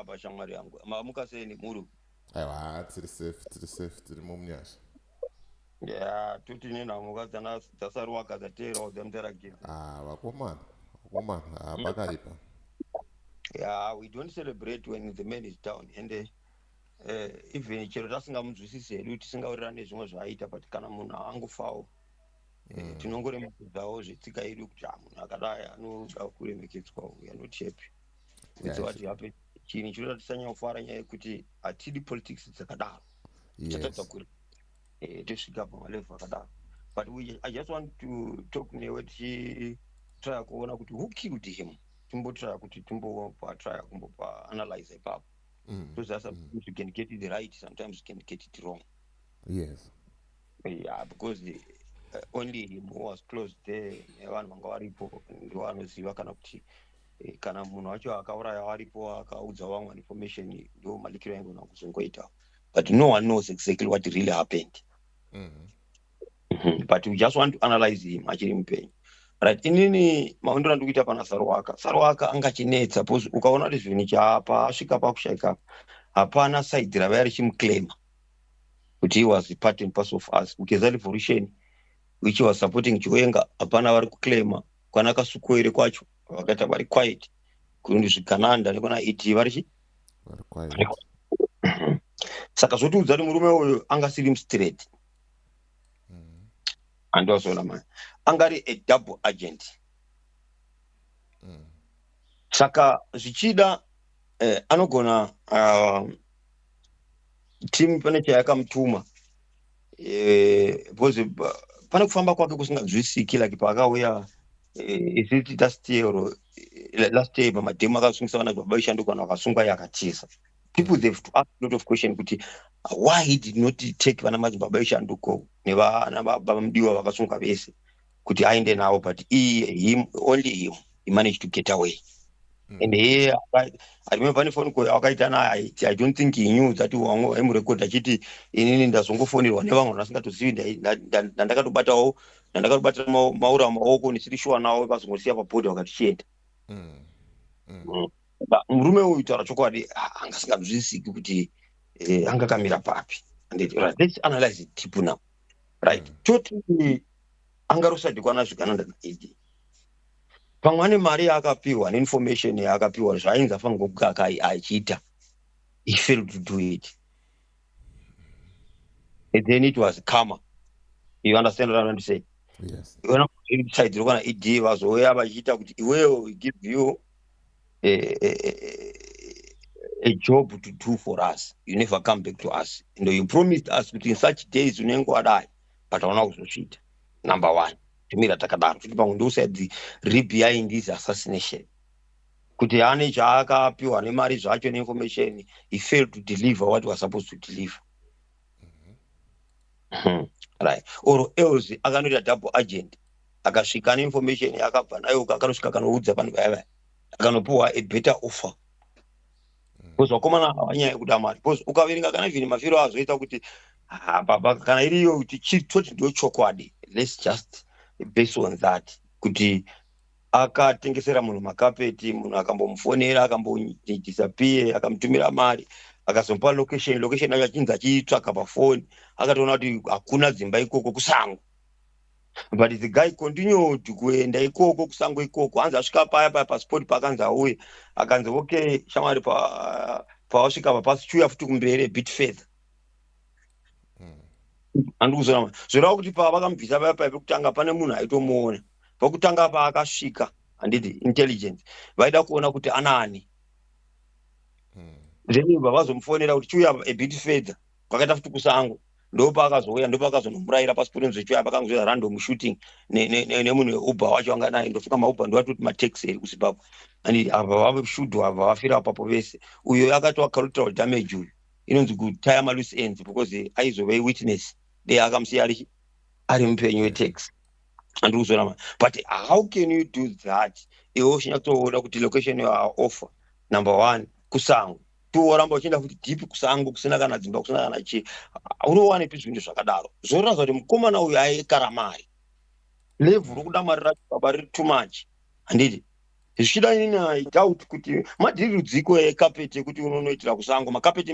apa shamwari yangu mamuka sei nemhuri aiwa tiri safe tiri safe tiri mumunyasha ya tuti nenhamuka dzasaruwaka dzateerawo dzamutaragidza ah, vakomana vakomana ah, mm. pakaipa ya we don't celebrate when the man is down and eh, eh, even chero tasingamunzwisisi hedu tisingawirirane zvimwe zvaaita but kana munhu angofawo mm. tinongoremekedzawo zvetsika yedu kuti a munhu akadai anoda kuremekedzwa uyu anoti yepi wese wati hape chinhu chinoda tisanyafara nyaya yekuti hatidi politics dzakadaro tatadza kuri eh, tosvika pamalevu akadaro but we, i just want to talk newe tichitrya kuona kuti who killed him timbotrya kuti timbopa trya kumbopa analyze ipapo mm. because mm. we can get it right sometimes we can get it wrong yes yeah because the, uh, only him who was close there nevanhu vanga varipo ndiwo anoziva kana kuti eh, kana munhu wacho akauraya waripo akaudza vamwe information ndiwo malikiro aingona kuzongoita but no one knows exactly what really happened mm -hmm. Mm -hmm. but we just want to analyze him achiri mupenyu right inini maundira ndi kuita pana sarwaka sarwaka angachinetsa bcause ukaona kuti zvinhu chapa asvika pakushaika hapana saidi rava yarichimuclaima kuti he was part and parcel of us kugeza revolution which was supporting chiwenga hapana vari kuclaima kwana kasukoere kwacho vakaita vari quiet kundi zvigananda nekwana et vari chi saka zvotiudza kuti murume uyu anga siri mstraight mm. andiwazoona mani anga ari a double agent mm. saka zvichida eh, anogona uh, timu pane chayakamutuma eh, because eh, pane kufamba kwake kusinganzwisiki like paakauya eh, is it last year or last year pamadhemu akasungisa vana baba ishandukano akasungwa yakatiza people they've to ask a lot of question kuti why he did not take vana madzibaba ishanduko nevana baba mudiwa vakasunga vese kuti aende navo but him only him he managed to get away mm. and here i remember ne phone call akaita naye i don't think he knew that wangu aimurecord achiti inini ndazongofonirwa nevamwe ndasingatozivi ndandakatobatawo ndandakatobatira maura maoko ndisiri shuwa nawo vazongosiya pabhodha vakati chienda mm. mm. mm. murume uyu taura chokwadi anga asinganzwisisiki kuti eh, anga kamira papi and let's analyze it deep now right mm. toti anga rusadikwana zvigananda naed pamwe ane mari yaakapiwa neinformation yaakapiwa zvaainzi afangokuga achiita he failed to do it and then it was comer you understand what i'm saying yes. iona kusaidzirwa kana ed vazouya vachiita kuti iweyo give you a, a, a job to do for us you never come back to us and you promised us kuti in such days unenge wadai but hauna kuzosvita number one timira takadaro futi pamwe ndousaid re behind his assassination kuti ane chaakapiwa nemari zvacho neinformation he failed to deliver what was supposed to deliver mhm. hmm, right or else akanoita double agent akasvika neinformation yaakabva nayo akanosvika akanoudza vanhu vaya vaya akanopiwa a better offer hmm. bcause vakomana ava nyaya yekuda mari bcause ukaverenga kana zvini mafiro azoita kuti ah, baba kana iriyo kuti chitoti ndochokwadi let's just base on that kuti akatengesera munhu makapeti munhu akambomufonera akambodisappear akamutumira mari akazomupa location location yacho achinzi achiitsvaka pafoni akatoona kuti hakuna dzimba ikoko kusango but the guy continued kuenda ikoko kusango ikoko hanzi asvika paya paya pasport paakanzi auye akanzi okay shamwari pawasvika pa pasi chuya futi kumberi bit further mm. andikuzoa zvoreva kuti pavakamubvisa vaya paive kutanga pane munhu aitomuona pakutanga paakasvika handiti intelligence vaida kuona kuti anaani mm. then vavazomufonera kuti chiuya abit fedha kwakaita futi kusango ndopaakazouya ndopaakazonomurayira pasi porinzwe chiuya pakangozoita random shooting nemunhu weuber wacho anga naye ndofunga mauber ndovatoti mataxi eri kuzimbabwe and ava vaveshudhu ava vafira apapo vese uyo akatoakarutira damage uyu inonzi kutaya maloose ends because aizove witness de akamusiya ari ari mupenyu wetax andiri kuzoona ma but how can you do that iwe uchinya kutoona kuti location yoa offer number one kusango tiworamba uchienda futi deep kusango kusina kana dzimba kusina kana chii unowanepi zvinhu zvakadaro zvoratidza kuti mukomana uyu aekara mari levhu rokuda mari racho baba riri too much handiti zvichida inini i doubt kuti madhiri rudziko ekapeti ekuti unonoitira kusango makapeti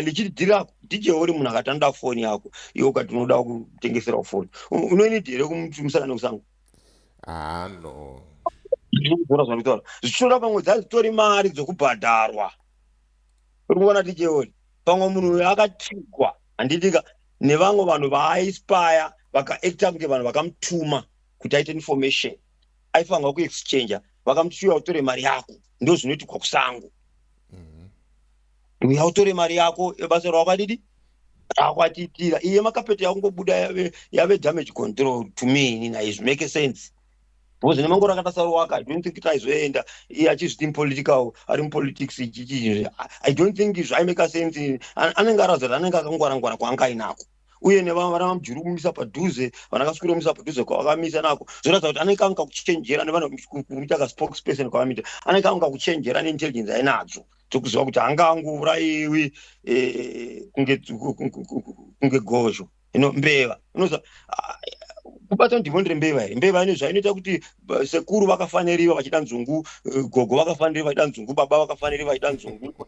lichiri dhiri ako dj uri munhu akati anoda foni yako iwe ukati unoda kutengeserawo foni unoinidi here kumuti musangane kusango haa no zvinogona zvakutaura zvichinoda pamwe dzazitori mari dzokubhadharwa uri kuona dj uri pamwe munhu uyo akatigwa handitika nevamwe vanhu vaaispaya vakaacta kunge vanhu vakamutuma kuti aite information aifanirwa kuexchanger vakamuti chiuya utore mari yako ndo zvinoitikwa kusango mhm. uya utore mari yako ebasa rawakadidi rakwatitira iye makapeta yakungobuda yave, yave damage control to me ini naye zvimake sense because ine mangoro akatasarowaka i don't think kuti aizoenda iye achizviti mupolitical ari mupolitics ichichii i don't think zvaimake sense anenge arazira anenge akangwarangwara kwaanga ainako uye nevamwe vana vamujuru kumisa padhuze vana kasukura kumisa padhuze kwavakamisa nako zvoratidza kuti anenge anga kuchenjera nevanoita kaspokesperson kwavamita anenge anga kuchenjera neintelligence ainadzo tokuziva kuti anga angourayiwi eh, kunge gozho ino mbeva inoza ah, kubata ndimo ndiri mbeva here mbeva ine zvainoita kuti eh, sekuru vakafaniriva vachida nzungu eh, gogo vakafaniriva vachida nzungu baba vakafaniriva vachida nzungu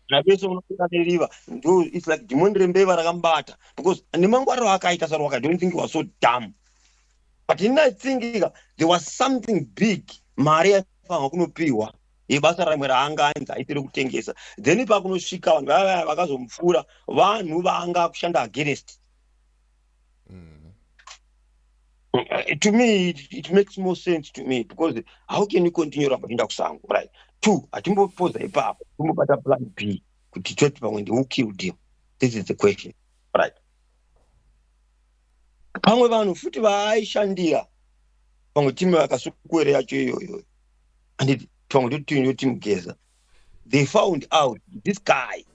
napese unobuda neriva ndo its like dhimoni rembeva rakamubata because nemangwariro akaita sarwaka i don't think was so dam but ini i think ka there was something big mari yaifanirwa kunopiwa yebasa ramwe raanga ainzi aitire kutengesa then ipakunosvika vanhu vaya vaya vakazomupfuura vanhu vaanga akushanda against mm. Uh, to me it, it makes more sense to me because how can you continue ramba kuenda kusango right two hatimbopoza ipapo timbobata plan b kuti toti pamwe ndiwo killed him this is the question right pamwe vanhu futi vaaishandira pamwe timu yakasukuwere yacho iyoyo and pamwe toti timu yoti mugeza they found out this guy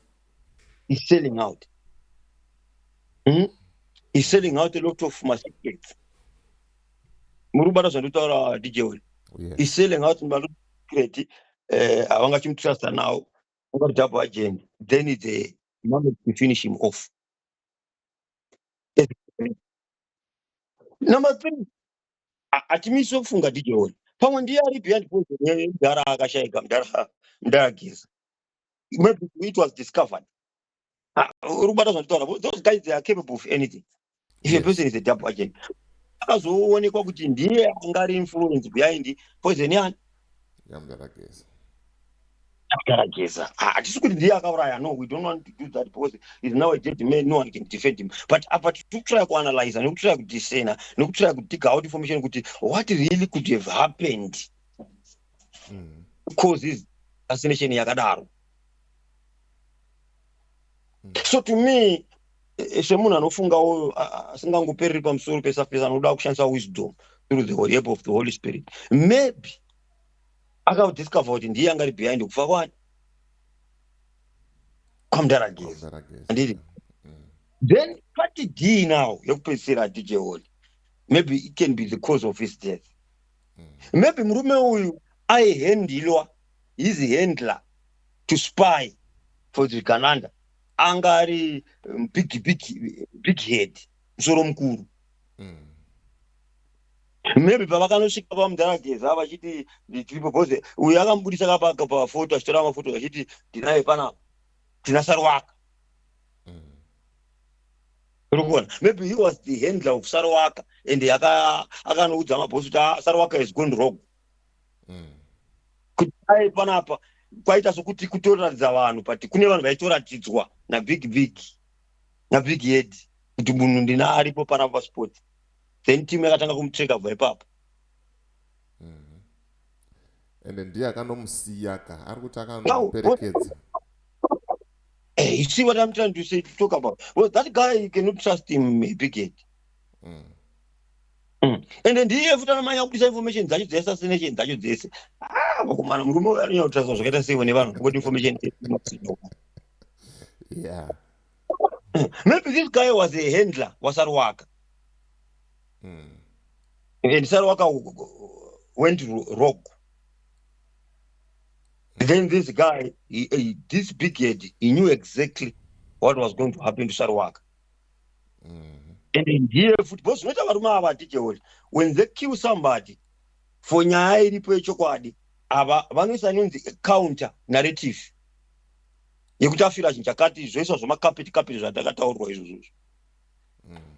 is selling out hmm? is selling out a lot of masecrets muri kubata zvandotaura dj oli is selling out masecret eh, havangachimutrasta now ungati double agent then it's a moment to finish him off number three hatimisi kufunga dj oli pamwe ndiye ari behind poison mdara akashaika mdara mdara geza maybe it was discovered ah, uri kubata zvanditaura those guys they are capable of anything if yes. a person is a double agent akazoonekwa kuti ndiye anga ari influence behind poison yani yamgarageza akarageza hatisi kuti ndiye akauraya no we don't want to do that because is now a dead man no one can defend him but apa tikutraya kuanalyza nekutraya kudisena nekutraya kudiga out information kuti what really could have happened mm. causes assassination yakadaro mm. so to me eh, semunhu anofungawo asingangopereri pamusoro pesurface anoda kushandisa wisdom through the holy help of the holy spirit maybe akadiscover kuti ndiye angari behind kufa kwani kwamdaragezi andiri then pati dii now yekupedzisira hatijeholi maybe it can be the cause of his death maybe murume uyu aihandilwa his handler to spy for the gananda anga ari um, big big big head musoro mukuru maybe pavakanosvika pamudhara geza vachiti tiripo bhoze uyu akamubudisa kapaka pafoto achitora mafoto vachiti tinaye pana tina sarwaka urikuona maybe he was the handler of sarowaka and akanoudza mabosi kuti ah, sarowaka is gone wrong mm. kuti aye panapa kwaita sokuti kutoratidza vanhu but kune vanhu vaitoratidzwa nabig big nabig head kuti munhu ndina aripo panapa pasport then team yakatanga kumutreka bva ipapo ende ndiye akanomusiya ka ari kuti akanoperekedza eh, you see what i'm trying to say to talk about well that guy you cannot trust him bigate mm. mm. ende ndiye futi anamanya kubudisa information dzacho dzese assassination dzacho dzese ah, vakomana murume uyo anonyanya kutrasa zvakaita sei vane vanhu kuti information yeah Maybe this guy was a handler waSaruwaka. Mm. And Saruwaka went rogue. Mm. Then this guy, he, he, this big head, he knew exactly what was going to happen to Saruwaka. Mm. And in here, football, zvinoita varume ava ticheori when they kill somebody for nyaya iripo yechokwadi ava vanoisa inonzi counter narrative yekuti afira chinhu chakati zvoiswa zvemakapeti kapeti zvandakataurwa izvozvo izvo mm.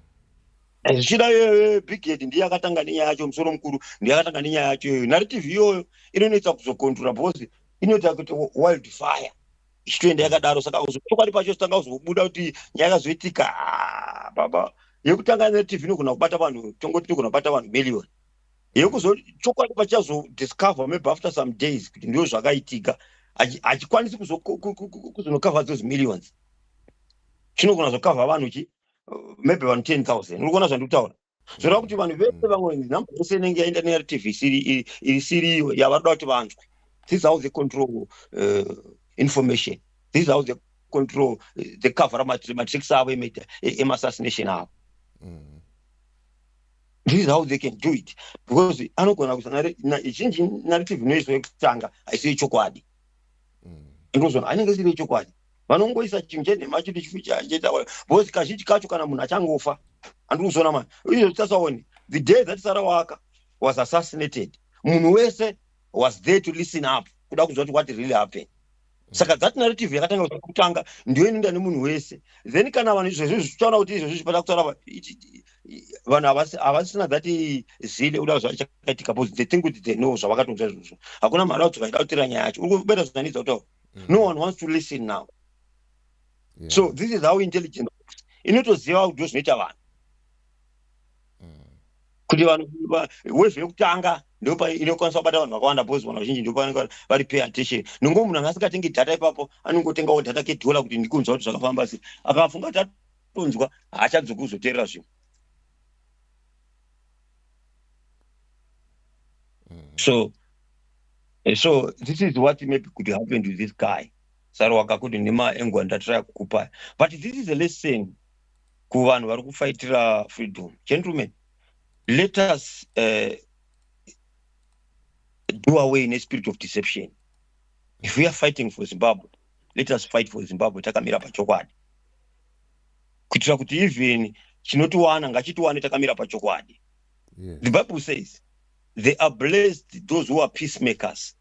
zvichida iyoyo brigade ndiye akatanga nenyaya yacho musoro mukuru ndiye akatanga nenyaya yacho iyoyo narrative iyoyo inonoita kuzokontrola because inoita kuti wild fire ichitoenda yakadaro saka chokwadi pacho tanga kuzobuda kuti nyaya yakazoitika ah, baba yekutanga narrative inogona kubata vanhu tongoti inogona kubata vanhu million yekuzo chokwadi pachazo discover maybe after some days kuti ndiyo zvakaitika hachikwanisi kuzonokavha those millions chinogona zokavha vanhu chi maybe vanhu 10 000 urikuona zvandikutaura zvoreva kuti vanhu vese vamwe number yese inenge yaenda nertv iri siriyo yavanoda kuti vanzwe this is how they control uh, information this is how they control uh, the cover matrix avo emassassination avo mm. this is how they can do it because anogona kuzanazhinji narrative inoiswa yekutanga haisi yechokwadi mm. ndozona anenge siri yechokwadi vanongoisa chinhu chenhema chiti chiitaura because kazhinji kacho kana munhu achangofa handiri kuzona mani izvo titasaone the day that sara waka was assassinated munhu wese was there to listen up kuda kuzwa kuti what really happened saka that narrative yakatanga kuda kutanga ndiyo inoenda nemunhu wese then kana vanhu izvezvi zvichitaura kuti izvezvi zvipada kutaura vanhu havasina that zile kuda zvachakaitika bcause they think kuti they know zvavakatonza izvozvo hakuna mari kuti vaida kutira nyaya yacho uri kubeta zvinanidza kutaura mm. no one wants to listen now so this is how intelligence inotoziva kuti ndozvinoita vanhu kuti vanhu wave yekutanga ndopainokwanisa kubata vanhu vakawanda bcause vanhu vazhinji ndopavanenge vari pay attention nongo munhu anga asingatengi data ipapo anongotengawo data kedhola kuti ndikunzwa kuti zvakafamba sei akafunga kuti atonzwa haachadzoki kuzoteerera zvinhu mm. so eh, so this is what maybe could happen to this guy sari wakakuti nemaengwa ndatiraya kukupai but this is a lesson kuvanhu vari kufaitira freedom gentlemen let us uh, do away nespirit of deception if we are fighting for zimbabwe let us fight for zimbabwe takamira pachokwadi kuitira kuti even chinotiwana ngachitiwane takamira pachokwadi yeah. the bible says they are blessed those who are peacemakers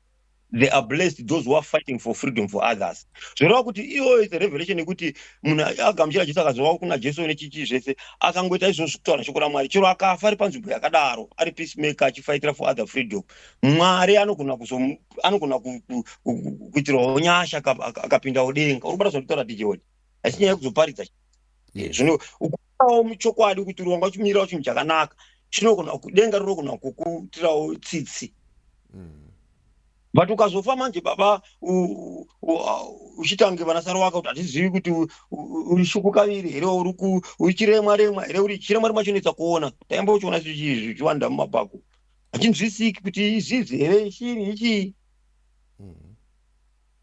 they are blessed those who are fighting for freedom for others zvoreva kuti iyoyo is revelation yekuti munhu agamuchira jesu akazova kuna jesu nechichii zvese akangoita izvozvo kutaura shoko ramwari chero akafa ari panzvimbo yakadaro ari peacemaker achifaitira for other freedom mwari anogona anogona kuitirawo nyasha akapindawo denga uri kubata zvanditaura dijewoni asi nyaya yekuzoparidza zvino awo muchokwadi kuti urongwa uchimirawo chinhu chakanaka chinogona kudenga rinogona kukutirawo tsitsi mm. but ukazofa manje baba uchitange vanasaro waka kuti hatizivi kuti uri shuku kaviri here uri chiremwa remwa here uri chiremwa remwa chinoitsa kuona taimba uchiona zvichiwanda mumabhaku hachinzwisiki kuti izizi here chii ichii mm-hmm.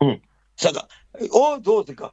hmm. saka all those ka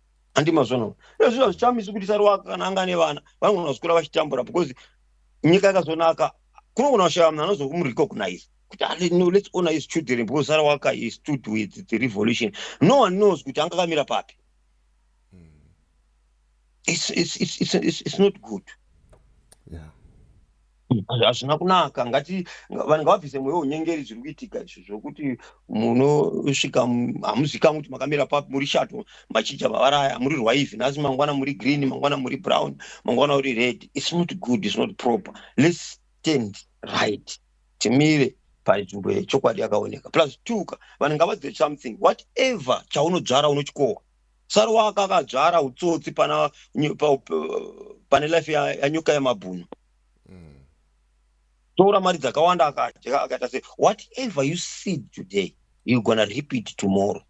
handi mazvona ezvi hazvichamisi kuti saruwaka kana anga ane vana vanogona kuzvikura vachitambura because nyika yakazonaka kunogona kushaya munhu anozokumurikognise kuti ah, no let's honor his children because saruwaka he stood with the revolution no one knows kuti anga kamira papi hmm. it's, it's, it's, it's, it's, it's not good yeah. hazvina kunaka ngati vanhu ngavabvise mweya unyengeri zviri kuitika izvo zvokuti munosvika hamuzikamwi kuti makamira papi muri shato machija vavaraya muri rwaivi nhasi mangwana muri green mangwana muri brown mangwana uri red its not good its not proper lets stand right timire panzvimbo yechokwadi yakaoneka plus two ka vanhu ngavazive something whatever chaunodzvara unochikohwa sari wakakadzvara utsotsi pane life yanyuka yemabhunu mm. tora mari dzakawanda akadya akaita se whatever you seed today you gonna rip it tomorrow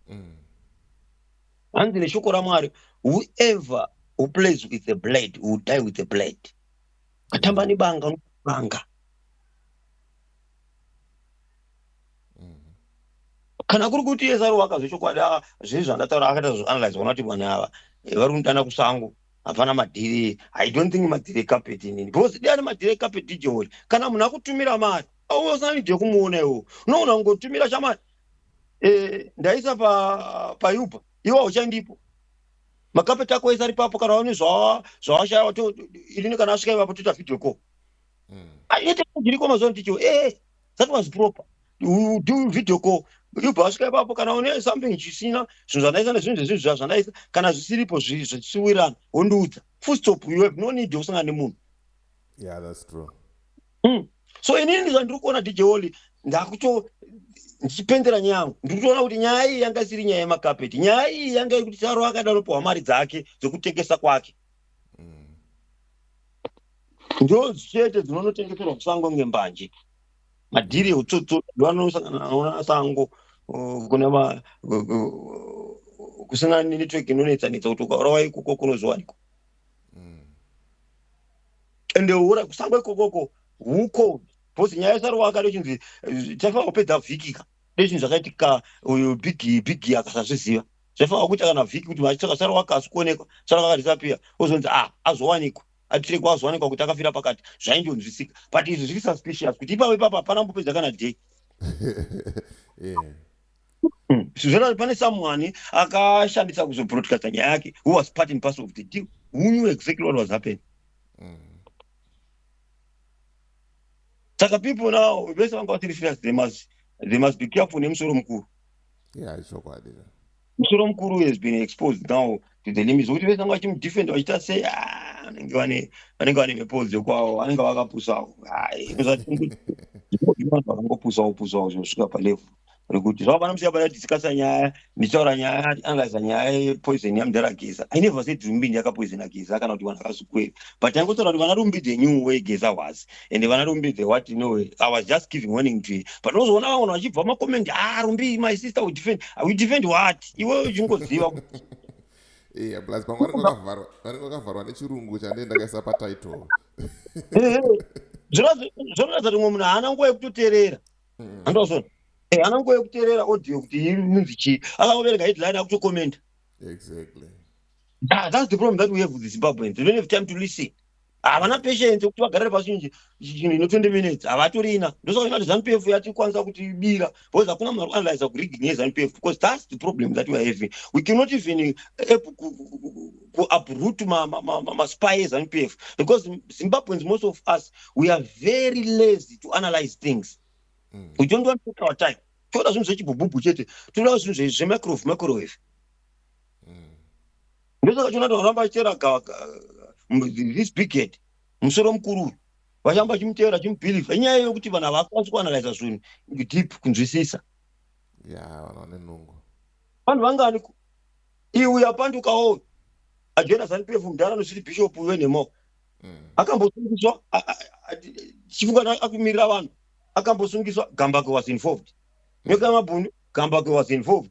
mm. hanzi neshoko ramwari whoever who plays with the blade will die with the blade katamba nebanga unobanga kana kuri kuti esaro wakazvechokwadi ah, zvezvandataura akaita zvoanalyze vona kuti vanhu ava eh, vari kundana kusango hapana madhiri i don't think madhiri ecarpet inini because dai ari madhiri ecarpet dj holy kana munhu akutumira mari auve usina need yekumuona iwo unoona kungotumira chamari eh, ndaisa payuba iwo hauchandipo makapeti ako ese ari papo kana waone zvawashaya inini kana asvika ivapo toita video call hmm. aite zviriko mazuva ndicho ee eh, that was proper you do video call yobva vasvika ipapo kana une something chisina zvinhu zvandaisa nezvinhu zvezvinhu zva zvandaisa kana zvisiripo zvichiwirana wondiudza full stop you have no need yokusangana nemunhu yeah that's true mm. so inini ndizva ndiri kuona dj oli ndakuto ndichipendera nyaya yangu ndiri kutoona kuti nyaya iyi yanga isiri nyaya yemakapeti nyaya iyi yanga yekuti taro akada anopiwa mari dzake dzekutengesa kwake ndo chete dzinonotengeserwa kusango kunge mbanje madhiri eutsotso vanosangana nawo nasango kune ma kusina network inonetsanetsa kuti ukaurawa ikoko kunozowanikwa mm. ende ura kusango ikokoko huko bcause nyaya isarowa akade chinzi eh, tafanira kupedza vhikika dezvinhu zvakaitika uyu big big akasazviziva zvaifanira kuita kana vhiki kuti vachitsvaka sara wake asi kuonekwa sara wake disappear ozonzi ah azowanikwa atirekwa azowanikwa kuti akafira pakati zvaindonzwisika but izvi zviri suspicious kuti ipapo ipapo hapana mbopedza kana day hmm. zvona pane samwani akashandisa kuzobroadcasta nyaya yake who was part in pass of the deal who knew exactly what was happening mm. saka people now vese vanga vasiri serious they must, they must be careful nemusoro mukuru yeah chokwadi musoro mukuru has been exposed now to the limit zvokuti vese vanga vachimudefend vachiita sei ah, vanenge vane vanenge vane mhepo dzekwavo vanenge vakapusawo vakangopusawo pusawo zvinosvika palevel rekuti zvavo vana musiya vati tikasa nyaya ndichaura nyaya angaisa nyaya yepoison yamudhara geza i never said rumbindi yakapoisona geza kana kuti vanhu vakazukweri but angotaura kuti vana rumbindi the new way geza was and vana rumbi the what you know i was just giving warning to you but unozoona vamwe vanhu vachibva macoment ah rumbi my sister will defend i will defend what iwe uchingoziva iya plus pamwe vanenge vakavharwa nechirungu chandee ndakaisa patitle eh, eh. zvinoratidza kuti mwe munhu haana nguva yekutoteerera mm. andozona eh, haana nguva yekuteerera audio kuti inonzi chii akangoverenga headline akutocommenta exactly ah, that's the problem that we have with the zimbabweans we don't have time to listen havana patience yekuti vagarire pasi chinhu chinhu ino 20 minutes havatorina ndosaka inati zanupf yatikwanisa kutibira because hakuna munhu arikuanalyza kurigging yezanupf because thats the problem that weare having we cannot even eh, able kuabrut maspy ezanupf because zimbabweans most of us we are very lazy to analyze things mm. we don't want to take our time toda zvinhu zvechibhubhubhu chete toda zvinhu zvemicrowave microwave ndosaka chona toramba chera this big head musoro mukuru uyu vachamba chimutevera chimubhilivha inyaya yokuti vanhu havakwanisi kuanalyza zvinhu deep kunzwisisa ya vanhu vane nungu vanhu vangani iwe yapandukawo ajena zanipf mudhara anosiri bishop uyo nemo mm. akambosungiswa chifunga akumirira vanhu akambosungiswa gambake was involved nyoka yamabhunu gambake was involved